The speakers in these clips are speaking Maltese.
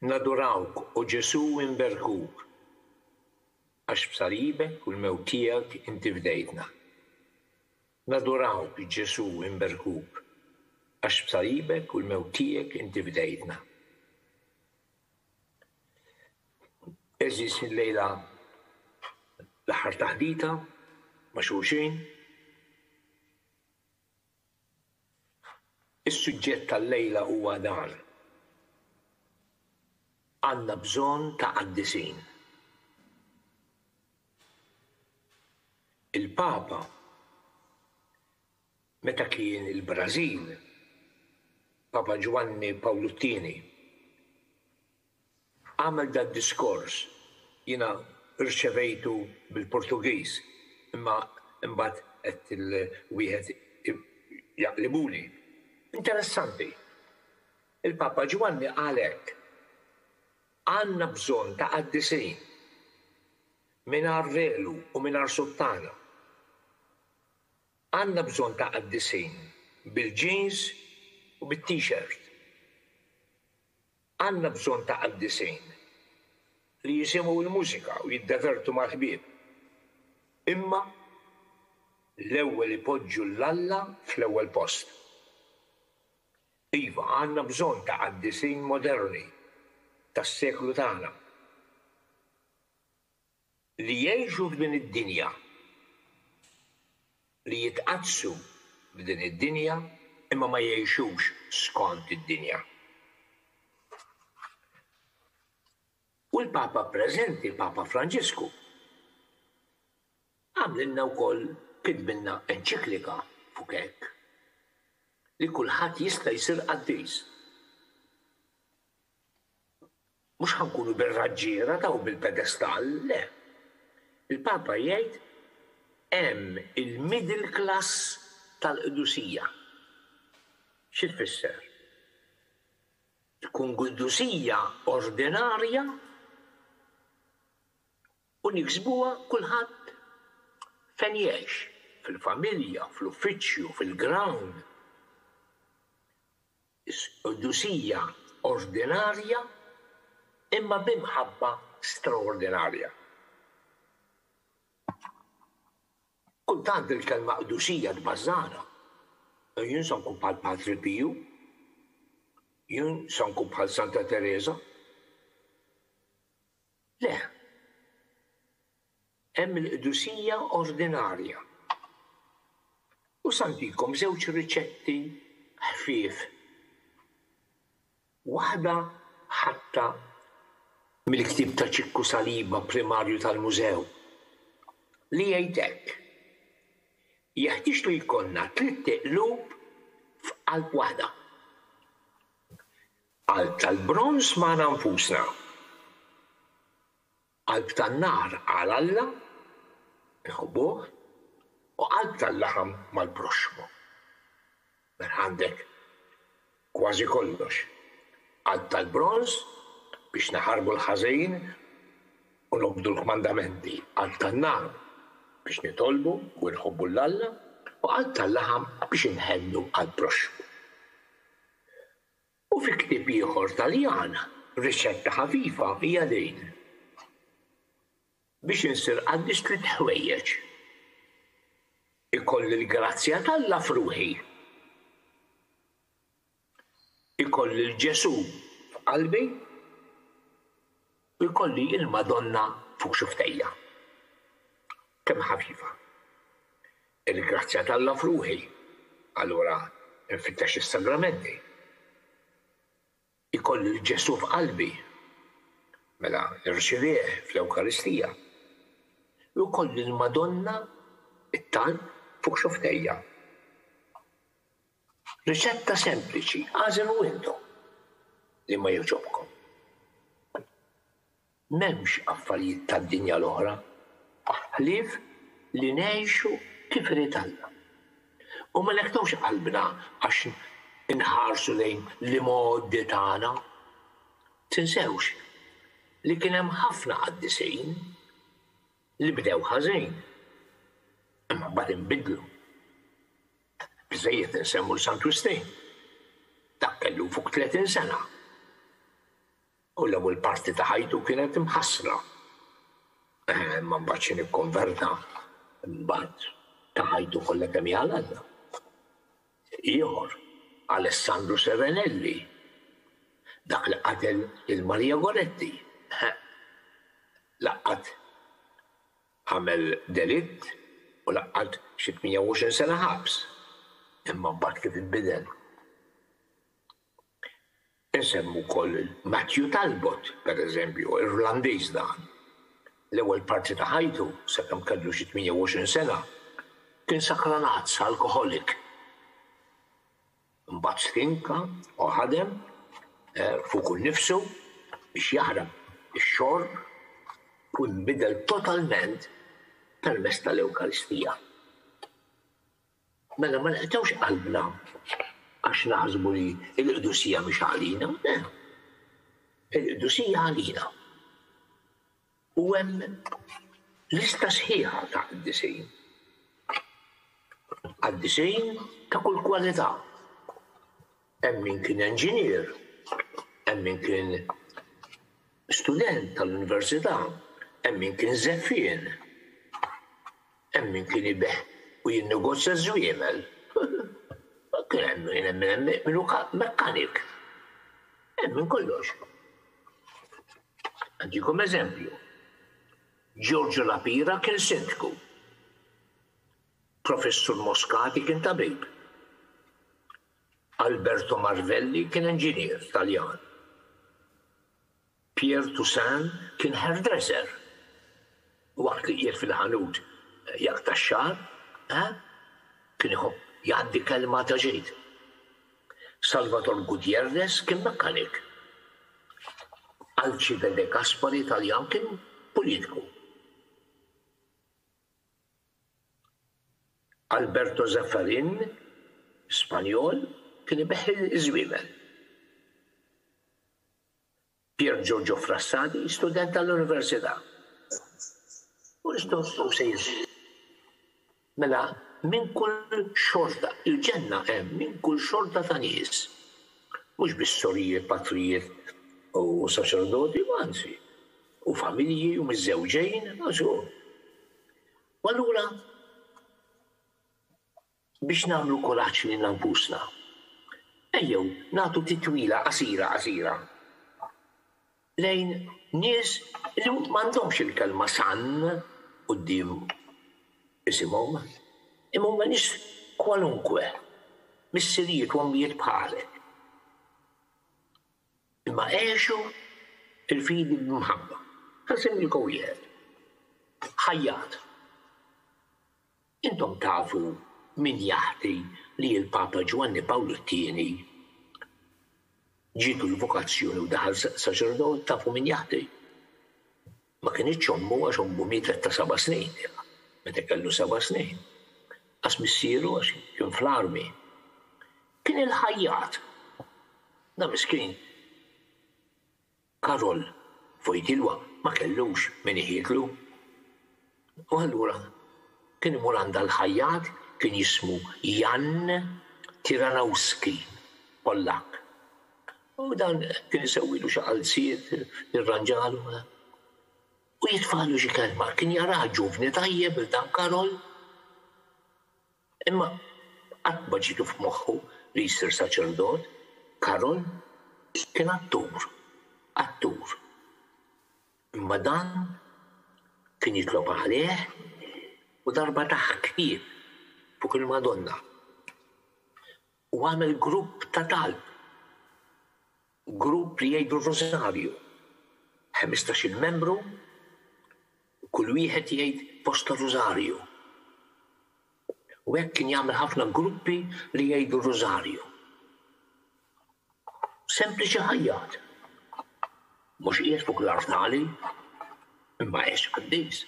Nadurawk, O Ġesù inberkuk, għax b'salibek u l-mewt tiegħek inti fdejtna. Nadurawk, Ġesù inberkuk, għax b'salibek u l-mewt tiegħek inti fdejtna. Għeżież illejla l-aħħar taħdita ma' xulxin. Is-suġġett tal-lejla huwa dan, Għandna bżonn ta' qaddisin. Il-Papa, meta kien il-Brażil, Papa Ġwanni Pawlu t-Tieni, Għamel dad-diskors, jiena rċevejtu bil-Portugiż, imma imbagħad għedt lil wieħed jaqlibuli. Interessanti. Il-Papa Ġwanni qal hekk, Għandna bżonn ta' qaddisin mingħajr velu u mingħajr suttana. Għandna bżonn ta' qaddisin bil-jeans u bit-t-shirt. Għandna bżonn ta' qaddisin li jisimgħu l-mużika u jiddevertu mal-ħbieb, imma l-ewwel ipoġġu 'l Alla fl-ewwel post. Iva, għandna bżonn ta' qaddisin moderni tas-seklu tagħna. li jgħixu f'din id-dinja, li jitqaddsu f'din id-dinja imma ma jgħixux skont id-dinja. U l-Papa preżenti, il-Papa Franġisku, għamlilna wkoll kitbilna enċiklika fuq hekk, li kulħadd jista' jsir qaddis. Mhux ħa nkunu bir-raġġiera ta' u bil-pedestall, le. Il-Papa jgħid hemm il-middle class tal-qdusija. Xi tfisser? Tkun qdusija ordinarja u niksbuha kulħadd fejn jgħix, fil-familja, fl-uffiċċju, fil-ground. Sqdusija ordinarja imma bi mħabba straordinarja. Kultant il-kelma qdusija tbażżagħna. Jien se nkun bħal Patri Piju. Jien se nkun bħal Santa Tereża. Le. Hemm il-qdusija ordinarja. U sa ntikom żewġ riċetti ħfief. Waħda ħatta mill-ktieb ta' Ċikku Saliba, primarju tal-Mużew, li jgħid hekk, Jeħtieġ li jkollna tlitt iqlub f'qalb waħda. Qalb tal-bronż magħna nfusna. Qalb tan-nar għal Alla, inħobbuh, u qalb tal-laħam mal-proxxmu. Mela għandek kważi kollox, qalb tal-bronż biex naħarbu l-ħażin u nobdu l-kmandamenti, qalb tan-nar biex nitolbu u nħobbu 'l Alla, u qalb tal-laħam biex inħennu għall-proxxmu. U fi ktieb ieħor Taljan, riċetta ħafifa hija din, Biex insir qaddis tliet ħwejjeġ, ikolli l-grazzja t'Alla f'ruħi, ikolli 'l Ġesù f'qalbi, Ilkoll hi l-Madonna fuq xuftejja. Kemm ħafifa. Il-grazzja t'Alla f'ruħi. Allura nfittex is-sagramenti. Ikolli 'l Ġesù f'qalbi. Mela nirċivih fl-Ewkaristija. Jew ikolli l-Madonna, it-talb, fuq xuftejja. Riċetta sempliċi, agħżel window li ma jogħġobkom. M'hemmx affarijiet tad-dinja l-oħra ħlief li ngħixu kif irid Alla. U ma neħtux qalbna għax inħarsu lejn l-imgħoddi tagħna. Tinsewx li kien hemm ħafna qaddisin. li bdew ħażin imma mbagħad inbidlu. Biżżejjed insemmu 'l Sant Wistin. Dak kellu fuq tletin sena u l-ewwel parti ta' ħajtu kienet imħassra. Imma mbagħad xi nikkonverta mbagħad ta ħajtu kollha kemm hi għal Alla. Ieħor, Alessandru Serenelli, dak li qatel lil Maria Goretti. Laqqat għamel delitt u laqqat xi 28 sena ħabs. Imma mbagħad kif inbidel? Insemmu wkoll lil Matthew Talbot, pereżempju, Irlandiż dan. L-ewwel parti ta' ħajtu, sakemm kellu xi 28 sena, kien sakranazz, alkoħolik. Imbagħad stinka u ħadem fuqu nnifsu biex jaħrab ix-xorb u jinbidel totalment permezz tal-Ewkaristija. Mela ma neqtgħux qalbna għax naħsbu li l-qdusija mhix għalina, le, il-qdusija għalina. U hemm lista sħiħa ta' qiddisin. Qaddisin ta' kull kwalità. Hemm min kien enġinier, hemm min kien student tal-università, hemm min kien żeffien, Hemm min kien ibigħ u jinnegozja ż-żwiemel. Kien hemm min hemm min hu mekkanik. Hemm minn kollox. Nagħtikom eżempju. Giorgio La Pira kien sindku. Professur Moscati kien tabib. Alberto Marvelli kien inġinier Taljan. Pierre Toussaint kien hairdresser. Waqt li qiegħed fil-ħanut jaqta' x-xagħar, eh, kien iħobb jgħaddi kelma ta' ġid. Salvator Gutierrez kien mekkanik. Alcide De Gaspari Taljan kien politiku. Alberto Zaffarin, Spanjol, kien ibigħ iż-żwiemel. Pier Giorgio Frassati, student tal-Università. Hu se jiżdied. Mela, minn kull xorta, il-ġenna hemm minn kull xorta ta' nies. Mhux biss sorijiet, patrijiet u saċerdoti, imma anzi, u familji u miżżewġin, għax hu. U allura, Biex nagħmlu kuraġġ lilna nfusna, ejjew nagħtu titwila qasira qasira lejn nies li m'għandhomx il-kelma San quddiem isimhom, imma huma nies kwalunkwe, missirijiet u ommijiet bħalek, imma għexu l-fidi b'imħabba. Ħa nsemmilkom wieħed, ħajjat. Intom tafu min jaħbi li l-Papa Ġwanni Pawlu t-Tieni ġietu l-vokazzjoni u daħal saċerdot? Tafu min jaħbi? Ma kinitx ommu għax ommu mietet ta' seba' snin ilha, meta kellu seba' snin. Qas missieru għax kien fl-armi. Kien il-ħajjat. Dan miskin. Karol, Fojdilwa ma kellux min iħidlu. U allura kien imur għand dal-ħajjat, kien jismu Jan Tiranowski, Pollakk. U dan kien isewwilu xi qalziet, jirranġalu, u jitfagħlu xi kelma. Kien jarah ġuvni tajjeb il-dan Karol. Imma qatt ma ġietlu f'moħħu li jsir saċerdot, Karol kien attur, attur. Imma dan kien jitlob għalih u darba ta ħbieb fuq il-Madonna u għamel grupp ta' talb. Grupp li jgħidu r-Rużarju, ħmistax-il membru, kull wieħed jgħid post tar-Rużarju. U hekk kien jagħmel ħafna gruppi li jgħidu r-Rużarju. Sempliċi ħajjat. Mhux qiegħed fuq l-artali, imma għex qaddis.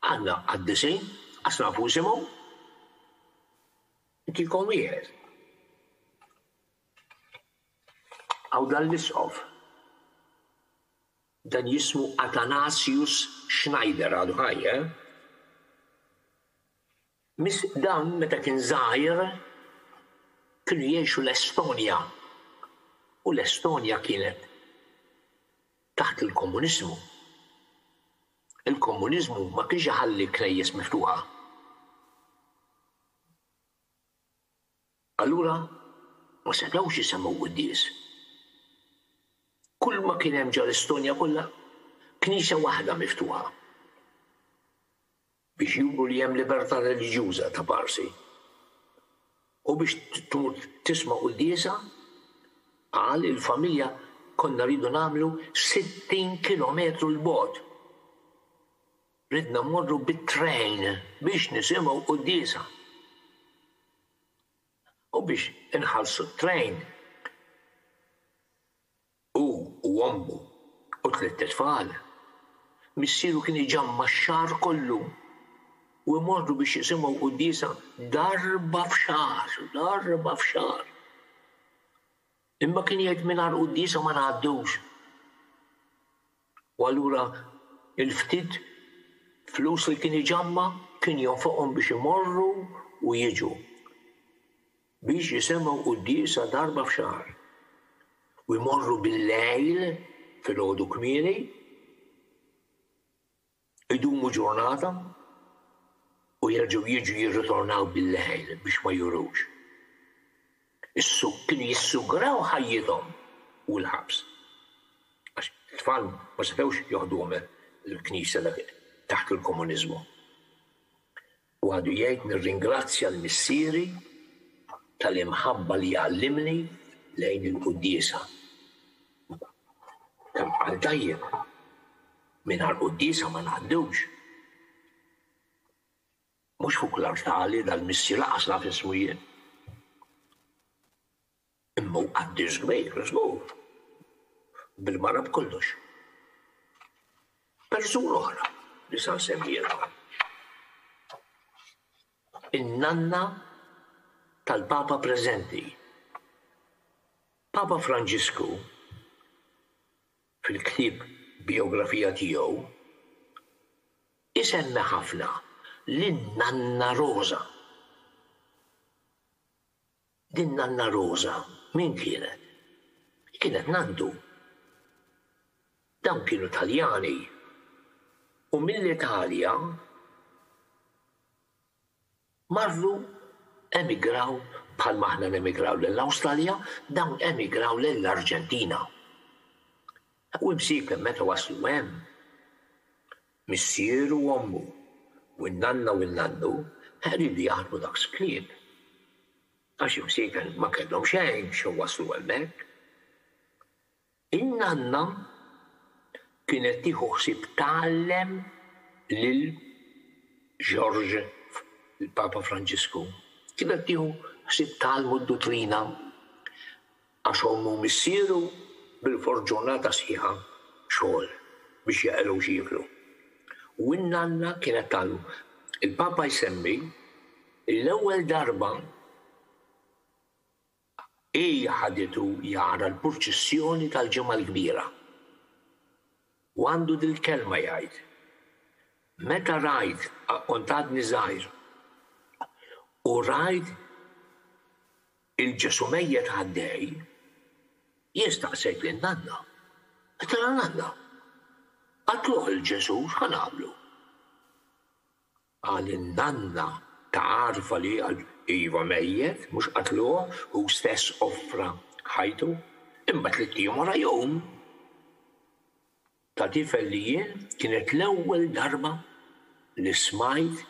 Għandna qaddisin, qas nafu isimhom. Inti jkun wieħed. Hawn dan l-Isqof, dan jismu Athanasius Schneider, għadu ħaj, eh? Miss dan meta kien żgħir kienu jgħixu l-Estonja u l-Estonja kienet taħt il-komuniżmu. Il-komuniżmu ma kienx iħalli knejjes miftuħa. Allura ma setgħux isemmgħu quddies. Kulma kien hemm ġa l-Estonja kollha knisja waħda miftuħa biex juru li hemm libertà reliġjuża ta' parsi. U biex tmur tisma' quddiesa, qal, il-familja konna rridu nagħmlu 60 kilometru 'l bogħod. Ridna mmorru bit-train biex nisimgħu quddiesa. U biex inħallsu t-train, hu u ommu u tlitt itfal, missieru kien iġamma' x-xahar kollu u jmorru biex jisimgħu quddiesa darba f'xahar, darba f'xahar. Imma kien jgħid mingħajr quddiesa ma ngħaddux. U allura il-ftit flus li kien iġamma' kien jonfoqhom biex imorru u jiġu biex jisemgħu quddiesa darba f'xahar. U jmorru bil-lejl filgħodu kmieni. Idumu ġurnata u jerġgħu jiġu jirritornaw bil-lejl biex ma jurux. Is-su, kienu jissugraw ħajjithom u l-ħabs. Għax it-tfal ma setgħux joħduhom il-Knisja dak taħt il-komuniżmu. U għadu jgħid, Nirringrazzja l-Missieri tal-imħabba li għallimni lejn il-quddiesa. Kemm qal tajjeb, mingħajr quddiesa ma ngħaddux. Mhux fuq l-artal, dal-Missier lanqas naf ismu jien. Imma hu qaddis kbir u żgur, bil-mara b'kollox. Persuna oħra li sa nsemmielkom, in-nanna tal-Papa preżenti. Papa Franġisku, fil-ktieb bijografija tiegħu, isemmi ħafna lin-nanna Roża. Din Nanna Roża min kienet? Kienet Nandu. Dawn kienu Taljani u mill-Italja marru emigraw bħalma aħna nemigraw lill-Awstralja, dawn emigraw lill-Arġentina. U imsiekheb meta waslu hemm, Missieru u ommu, u n-nanna u n-nannu ħelu li jaħdmu daqs klieb, għax imsiekel ma kellhom xejn xew waslu hemmhekk. In-nanna kienet tieħu ħsieb tgħallem lil George, il-Papa Franġisku, kienet tieħu ħsieb tgħallmu d-duttrina Għax ommu u missieru bilfors ġurnata sħiħa xogħol biex jeqirgħu x'jieklu. U n-nanna kienet tagħlu. Il-Papa jsemmi li l-ewwel darba hi ħaditu jara l-purċissjoni tal-Ġimgħa l-Kbira. U għandu dil-kelma jgħid, Meta rajt, kont għadni żgħir, u rajt Il-Ġesù mejjet għaddej, jien staqsejt lil Nanna. Qtala Nanna. Qatluh lil Ġesù, x'ħa nagħmlu? Qal in-Nanna, tagħrfha li qal, iva mejjet, mhux qatluh, hu stess offra ħajtu, imma tliet ijiem wara jqum. Ta' tifel li jien kienet l-ewwel darba li smajt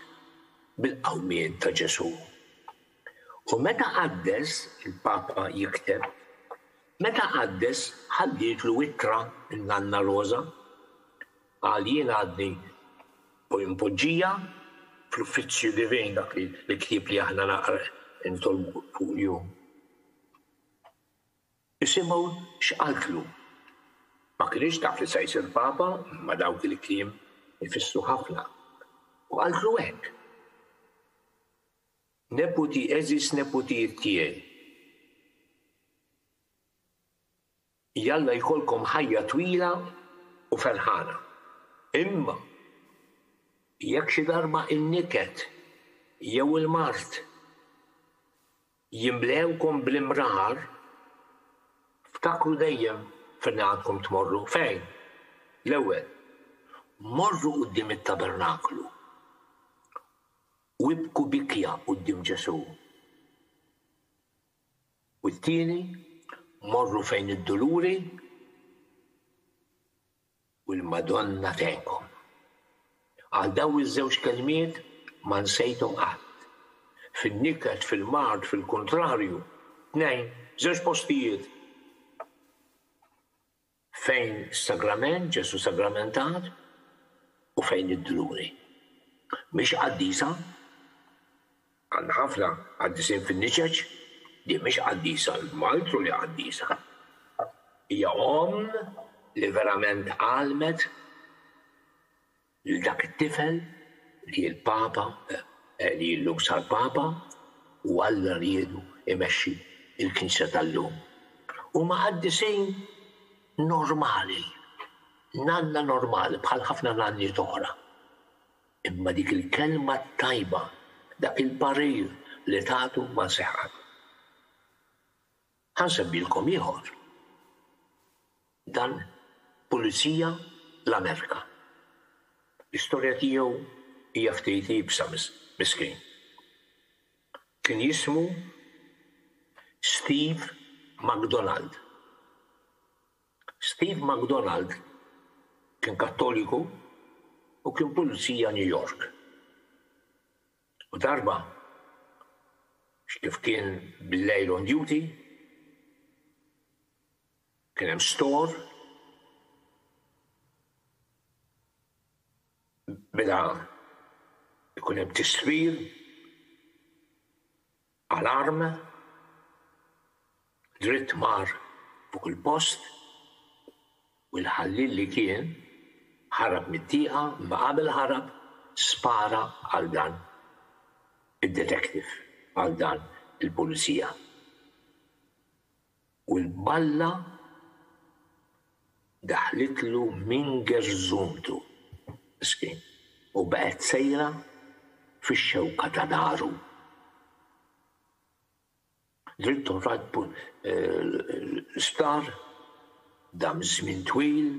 bil-qawmien ta' Ġesù. U meta qaddes, il-Papa jikteb, meta qaddes ħaddietlu ittra n-Nanna Roża. Qal jien għadni mpoġġija fl-Uffizzju Divin, dak li l-ktieb li aħna nitolbu fuq jum. Isimgħu x'qaltlu. Ma kinitx taf li se jsir Papa imma dawk il-kliem ifissru ħafna. U qaltlu hekk, Neputi għeżież neputijiet tiegħi, jalla jkollkom ħajja twila u ferħana. Imma jekk xi darba n-niket jew il-mard Jimlewkom bl-imrar, ftakru dejjem fejn għandkom tmorru. Fejn? L-ewwel, morru quddiem it-tabernaklu u ibku bikja quddiem Ġesù. U t-tieni, morru fejn id-duluri. U l-Madonna tgħinkom. Għal dawn iż-żewġ kelmiet ma nsejthom qatt. Fin-niket, fil-mard, fil-kuntrarju, tnejn, żewġ postijiet fejn s-Sagrament, Ġesù Sagramentat, u fejn id-Dluri. Mhix qaddisa? Għandna ħafna qaddisin fin-niċeċ, din mhix qaddisa l-maltru li qaddisa. Hija omm li verament għallmet lil dak it-tifel li hi l-Papa, li llum sar Papa, u Alla riedu jmexxi l-Knisja tal-lum. Huma qaddisin normali, nanna normali bħal ħafna nanniet oħra. Imma dik il-kelma t-tajba, dak il-parir li tagħtu ma seħħ qatt. Ħa nsemmilkom ieħor, dan pulizija l-Amerika. L-istorja tiegħu hija ftit iebsa, miskin. Kien jismu Steve McDonald. Steve McDonald kien Kattoliku u kien pulizija New York. U darba, x'kif kien bil-lejl on duty, kien hemm store, beda jkun hemm tisfir, Alarm, dritt mar fuq il-post u l-ħalliel li kien ħarab mit-tieqa imma qabel ħarab spara għal dan id-detective, għal dan il-pulizija. U l-balla daħlitlu minn gerżuntu, miskin, u baqgħet sejra fix-xewka ta' dahru. Dritt u rajt l-isptar, dam żmien twil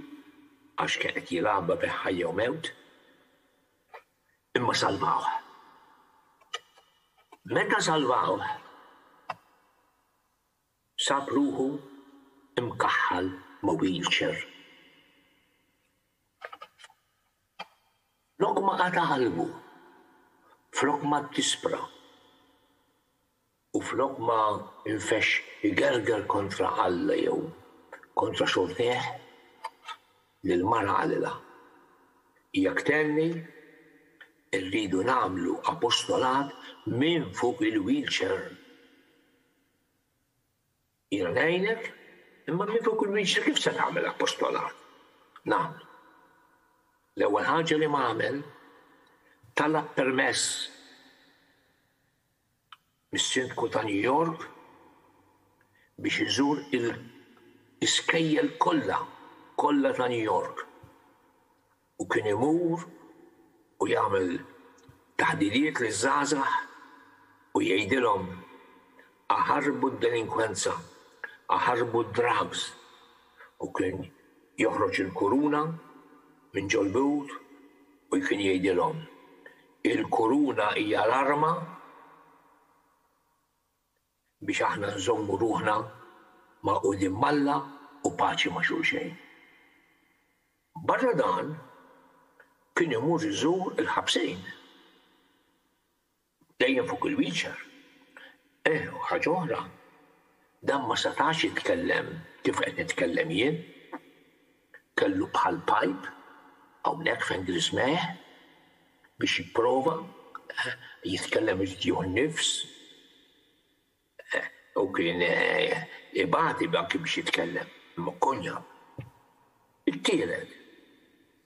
għax kien qed jilgħabha bejn ħajja u mewt, imma salvawh. Meta salvawh, sab ruħu mkaħħal ma' wheelchair. Flok ma qata' qalbu, flok ma ddispra u flok ma nfexx igerger kontra Alla jew kontra xortejh, lill-mara qalilha, Jekk tenni, irridu nagħmlu apostolat minn fuq il-wheelchair. Jiena ngħinek, imma min fuq il-wiċċ kif se tagħmel apostolat? Nagħmlu. L-ewwel ħaġa li m'għamel, talab permess mis-Sindku ta' New York biex iżur il-iskejjel kollha, kollha ta' New York. u kien imur u jagħmel taħdiriet liż-żgħażagħ u jgħidilhom aħarbu d-delinkwenza, aħarbu d-drugs u kien joħroġ il-kuruna minn ġol-but u kien jgħidilhom, il-kuruna hija l-arma, biex aħna nżommu ruħna magħqudin m'Alla u paċi ma' xulxejn. Barra dan, kien imur iżur il-ħabsin. Dejjem fuq il-wheelchair. Eh, u ħaġa oħra, dan ma setax jitkellem kif qed nitkellem jien. Kellu bħal pajp hawnhekk fejn griżmeh biex jipprova jitkellem irid jieħu n-nifs u kien ibati anki biex jitkellem ma' Konya. It-tielet,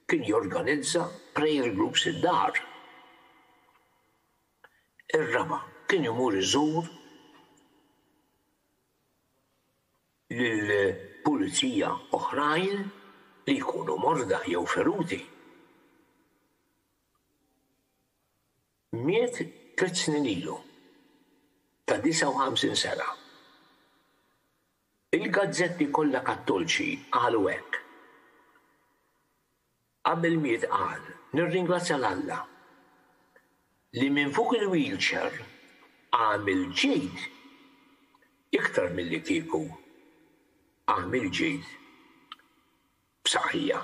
kien jorganizza prayer groups id-dar. Ir-raba', kien imur iżur. lil pulizija oħrajn li jkunu morda jew feruti. Miet tliet snin ilu, ta' 59 sena. Il-gazzetti kollha Kattolċi qalu hekk. Qabel l-miet qal, Nirringrazzja 'l Alla li minn fuq il-wheelchair għamil ġid iktar milli kieku għamil ġid b'saħħija.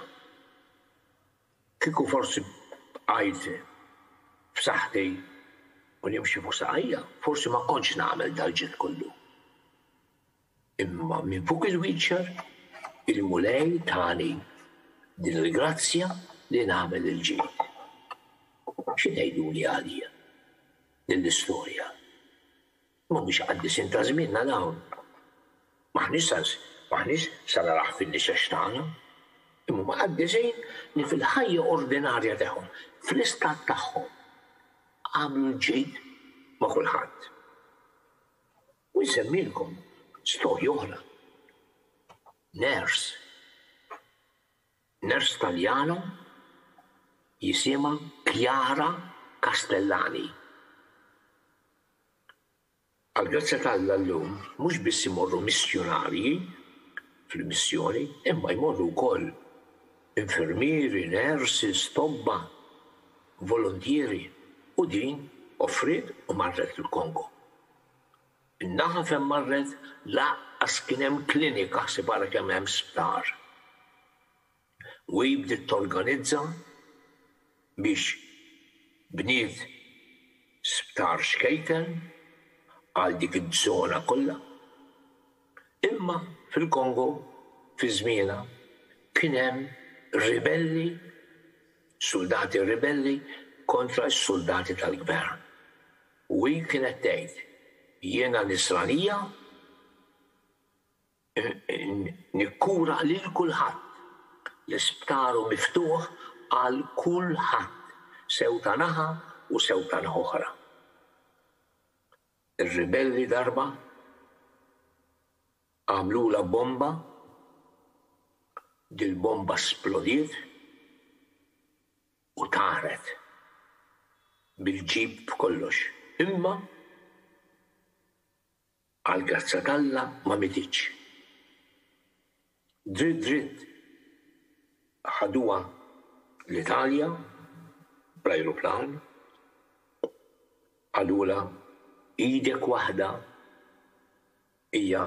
Kieku forsi bqajt f'saħħti u nimxi fuq saqajja, forsi ma kontx nagħmel dal-ġid kollu. Imma minn fuq il-wheelchair, il-Mulej tani din il-grazzja li nagħmel il-ġid. Xi tgħiduli għalija din l-istorja? Mhumiex qaddisin ta' żmienna dawn. M'aħniex sa naraħ fin-nixex tagħna. Imma huma qaddisin li fil-ħajja ordinarja tagħhom, fl-istat tagħhom, għamlu l-ġid ma' kulħadd. U nsemmilkom storja oħra. Nurse. Nurse Taljana jisimha Chiara Castellani. Għall-grazzja t'Alla llum mhux biss imorru missjunarji fil-missjoni imma jmorru wkoll infermieri, nurses, tobba, voluntieri u din offriet u marret il-Kongo. In-naħa fejn marret lanqas kien hemm klinika ħsib ara kemm hemm sptar. U hi bdiet torganizza biex bniet sptar xkejken għal dik iż-żona kollha. Imma fil-Kongo fi żmienha kien hemm ribelli, suldati ribelli kontra s-suldati tal-gvern. U hi kienet tgħid, Jiena Nisranija, nikkura lil kulħadd, l-isptar hu miftuħ għal kulħadd, sew ta' naħa u sew ta' naħa oħra. Ir-ribelli darba għamlulha bomba, dil-bomba splodiet, u tagħrad bil-ġid b'kollox, imma għall-grazzja t'Alla ma mietitx. Dritt dritt ħaduha l-Italja bl-ajruplan, qalulha idek waħda Hija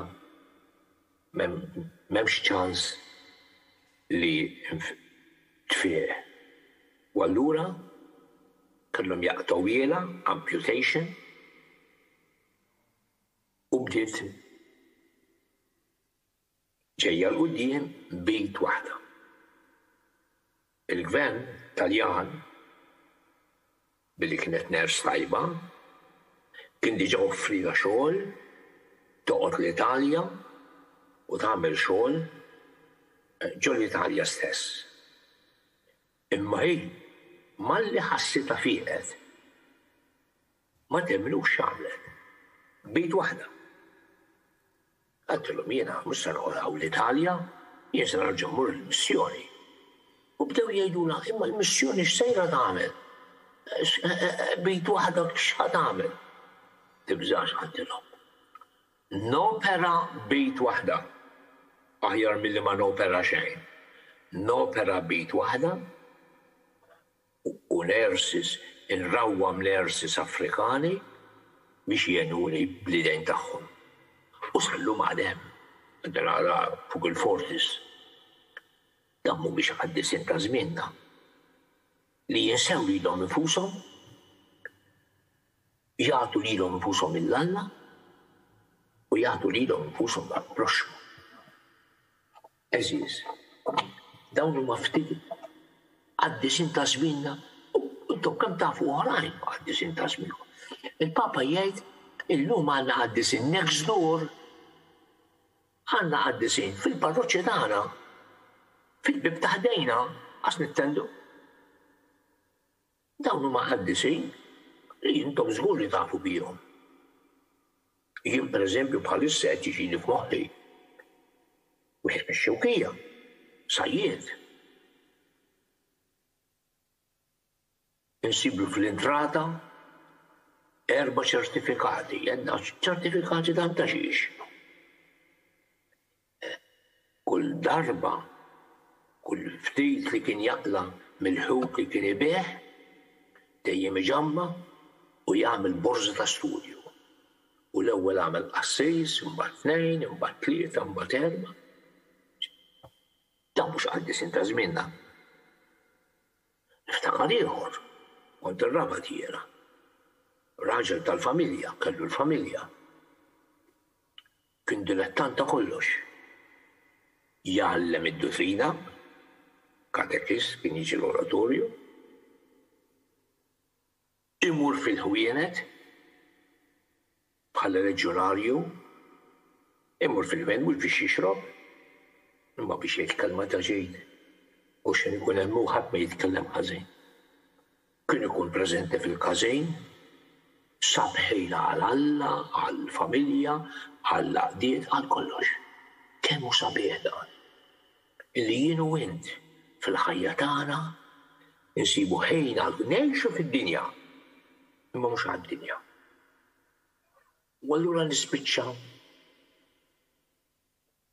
m'hemmx ċans li tfieq u allura kellhom jaqtgħuhielha, amputation, u bdiet. ġejja 'l quddiem b'id waħda. Il-Gvern Taljan, billi kienet nurse tajba, kien diġa offrilha xogħol toqgħod l-Italja u tagħmel xogħol ġo l-Italja stess. Imma hi malli ħassitha fieqet. Ma temmnux x'għamlet. B'id waħda. Għaltilhom jiena mhux se noqgħod hawn l-Italja, jien se nerġa' mmur il-missjoni. U bdew jgħidulha, imma l-missjoni x'sejra tagħmel? B'id waħda x'ħa tagħmel? Tibżax għaltilhom. Nopera b'id waħda aħjar milli ma nopera xejn. Nopera b'id waħda. u l-Ersis inrawwam l-Ersis Afrikani biex jgħinuni bl-idejn tagħhom. U sal-lum għad hemm. Dan ara fuq il-Fortis. Dawn mhumiex qaddisin ta' żmienna li jinsew lilhom infushom, jagħtu lilhom infushom lil Alla u jagħtu lilhom infushom għall-proxxmu. Għeżież, dawn huma ftit għad-disinn ta' żmienna u intom kemm tafu oħrajn għad-disinn ta' żmienkom. Il-Papa jgħid, illum għandna qaddiesin next door, għandna qaddiesin fil-parroċċa tagħna, fil-bieb ta' ħdejna, qas nittendu. Dawn huma qaddisin li intom żgur li tafu bihom. Jien pereżempju bħalissa qed jiġini f'moħħi wieħed mix-Xewkija, sajjied. Insiblu fl-intrata erba' ċertifikati, għedna ċertifikati ta' xiex? Kull darba, kull ftit li kien jaqla' mill-ħut li kien ibigħ, dejjem iġamma' u jagħmel borża ta' studju. U l-ewwel għamel qassis, imbagħad tnejn, imbagħad tlieta, imbagħad erba'. Dawn mhux qaddisin ta' żmienna. Niftakar ieħor, kont ir-raba' tiegħi. Raġel tal-familja, kellu l-familja. Kien dilettant ta' kollox. Jgħallem id-dutrina, katekist, kien jiġi l-oratorju, imur fil-ħwienet bħala leġjonarju, imur fil-ħwienet mhux biex jixrob, imma biex jgħid kelma ta' ġid, għax kien ikun hemm hu ħadd ma jitkellem ħażin. Kien ikun preżenti fil-każejn, sab ħila għal Alla, għall-familja, għall-għaqdiet, għal kollox. Kemm hu sabiħ dan! Li jien u int, fil-ħajja tagħna, insibu ħin għal. Ngħixu fid-dinja, imma mhux għad-dinja. U allura nispiċċa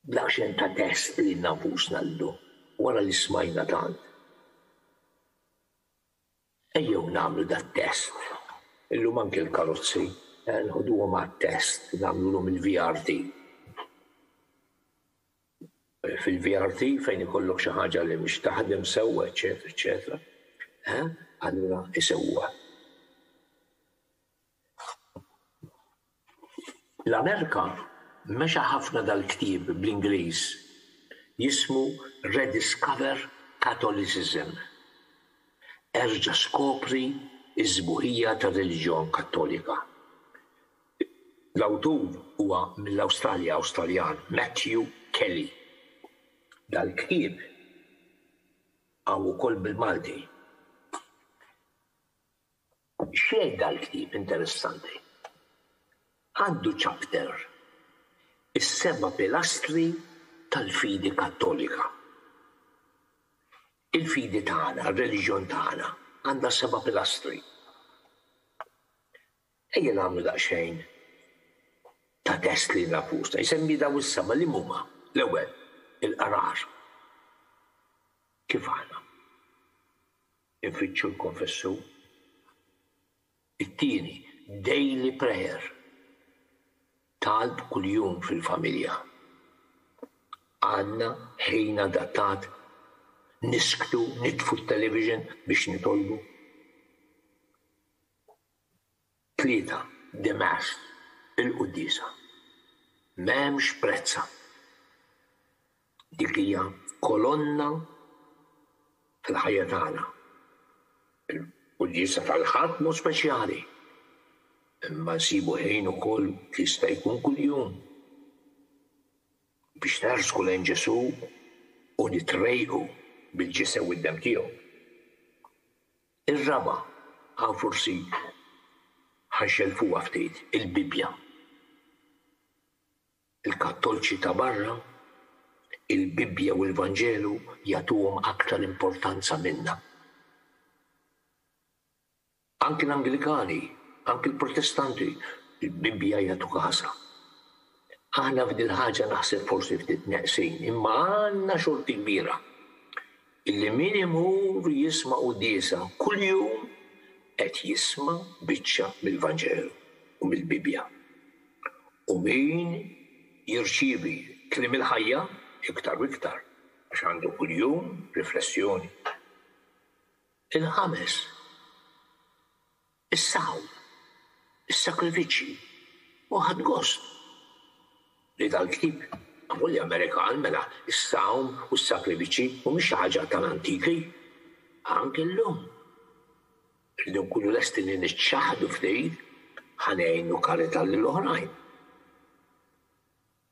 b'daqsxejn ta' test lilna nfusna llum, wara li smajna tant. Ejjew nagħmlu dat-test. Illum anke l-karozzi nħduhom għat-test, nagħmlulhom il-VRT. Fil-VRT fejn ikollok xi ħaġa li mhix taħdem sewwa eċċetera eċċetera, allura isewwuha. L-Amerika mexa ħafna dal-ktieb bl-Ingliż jismu Rediscover Catholicism, Erġa' Skopri s-Sbuħija tar-Reliġjon Kattolika. L-awtur huwa mill-Awstralja Awstraljan Matthew Kelly. Dal-ktieb hawn ukoll bil-Malti. X'jgħid dal-ktieb interessanti? Għandu chapter, Is-Seba' Pilastri tal-Fidi Kattolika. Il-fidi tagħna, r-reliġjon tagħna, għandha seba' pilastri. Ejja nagħmlu daqsxejn ta' test lilna nfusna. Jsemmi dawn is-seba' liema huma? L-ewwel, il-qrar. Kif aħna? Infittxu l-Konfessur. It-tieni, Daily Prayer, Talb kuljum fil-familja. Għandna ħin adattat? Nisktu, nitfu t-television biex nitolbu? Tlieta, The Mass, il-Quddiesa. M'hemmx prezzha. Dik hija kolonna fil-ħajja tagħna. Il-Quddiesa tal-Ħadd mhu speċjali, imma nsibu ħin ukoll jista' jkun kuljum biex nersqu lejn Ġesù u nitrejqu bil-ġisem u d-demm tiegħu. Ir-raba', hawn forsi ħa jxellfuha ftit, il-Bibbja. Il-Kattolċi ta' barra, il-Bibbja u l-Vanġelu jagħtuhom aktar importanza minna. Anki l-Anglikani, anki l-Protestanti, il-Bibbja jagħtu każha. Aħna f'dil-ħaġa naħseb forsi ftit neqsin, imma għandna xorti kbira. Illi min imur jisma' quddiesa kuljum qed jisma' biċċa mill-Vanġelu u mill-Bibbja. U min jirċievi Kliem il-Ħajja iktar u iktar, għax għandu kuljum riflessjoni. Il-ħames. Is-saħħu, is-sakrifiċċji u ħadt gost li dal-ktieb magħmul li Amerikan, mela s-sawm u s-sakrifiċċji mhumiex xi ħaġa tal-antiki. Anke llum irridu nkunu lesti li niċċaħħdu ftit ħa ngħinu karità lil oħrajn.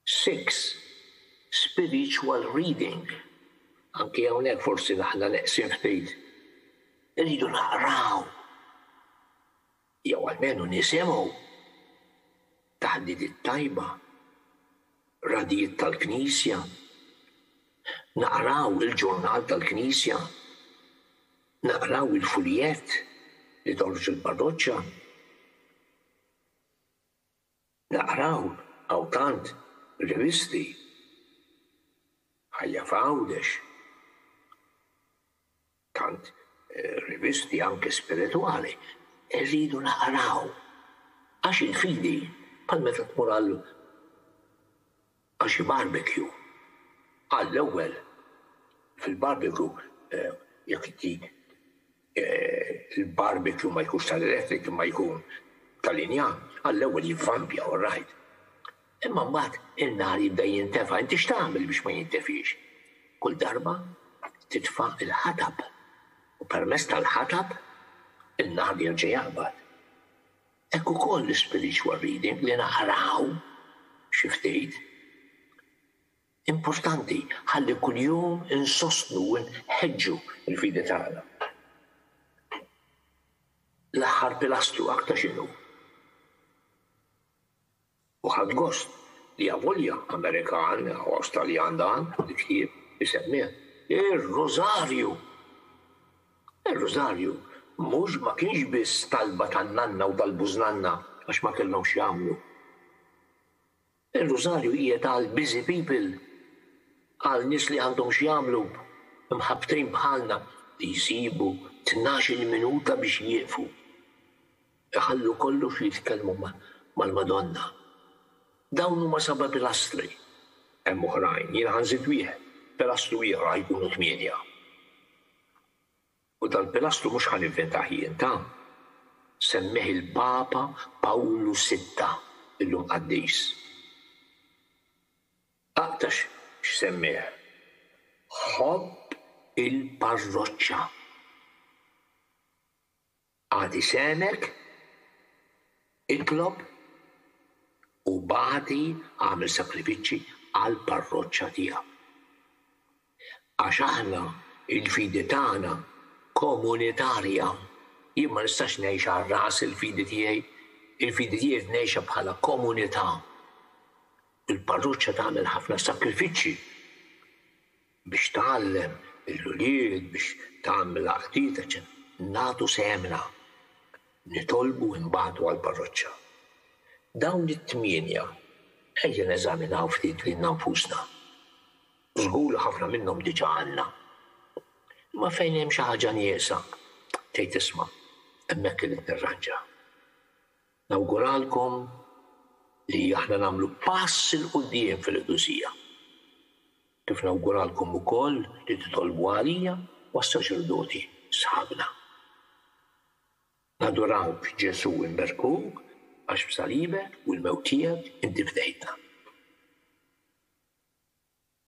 Six, Spiritual reading, Anki hawnhekk forsi aħna neqsin ftit. Irridu naqraw jew almenu nisimgħu taħdiet it-tajba, radijiet tal-Knisja, naqraw il-ġurnal tal-Knisja, naqraw il-fuljett li toħroġ il-parroċċa. Naqra hawn, hawn tant, rivisti. Ħajja f'Għawdex. Tant rivisti anke spiritwali. Irridu naqraw. Għax il-fidi, bħal meta tmur għal. Għal xi barbekju. Għall-ewwel, fil-barbekju, jekk dik il-barbekju ma jkunx tal-elettric imma jkun ta' linja, għall-ewwel jivvampja all right. Imma mbagħad in-nar jibda jintefa', inti x'tagħmel biex ma jintefiex? Kull darba titfa' l-ħatab u permezz tal-ħatab in-nar jerġa' jaqbad. Hekk ukoll l-spiritual reading, li naqraw xi ftit, importanti ħalli kuljum insostnu u nħeġġu l-fidi tagħna. L-aħħar pilastru aktarx inhu. U ħadt gost li avolja Amerikan, ħoss Taljan dan, il-ktieb isemmieh ir-Rużarju! Ir-Rużarju mhux ma kienx biss talba tan-nanna u tal-bużnanna għax ma kellhom x'jagħmlu. Ir-Rużarju qiegħed għal busy people, għal nies li għandhom x'jagħmlu, mħabbtin bħalna, li jsibu tnax-il minuta biex jieqfu. Iħallu kollox u jitkellmu mal-Madonna. Dawn huma seba' pilastri. Hemm oħrajn, jiena ħa nżid wieħed, pilastru ieħor ħa jkunu tmienja. U dal-pilastru mhux ħa nivventah jien, ta? Semmieh il-Papa Pawlu Sitta, illum qaddis. Aqta' x'semmieh, Ħobb il-parroċċa. Agħti sehmek, itlob, u bagħti, agħmel sakrifiċċji għall-parroċċa tiegħek. Għax aħna, il-fidi tagħna komunitarja. Jien ma nistax ngħix għal rasi l-fidi tiegħi, il-fidi tiegħi rrid ngħixha bħala komunità. Il-parroċċa tagħmel ħafna sakrifiċċji. biex tgħallem lill-ulied biex tagħmel l-għaqdiet, eċċetera nagħtu sehemna, nitolbu u nbagħtu għall-parroċċa. Dawn it-tmienja ejja neżaminaw ftit lilna nfusna. Żgur li ħafna minnhom diġà għandna. Imma fejn hemm xi ħaġa nieqsa, tgħid isma', hemmhekk irrid nirranġa. Nawguralkom li aħna nagħmlu pass 'il quddiem fil-qdusija. Kif nawguralkom ukoll li titolbu għalija u għas-saċerdoti sħabna. Nadurawk Ġesù u nberkuk għax b'salibek u l-mewt tiegħek inti fdejtna.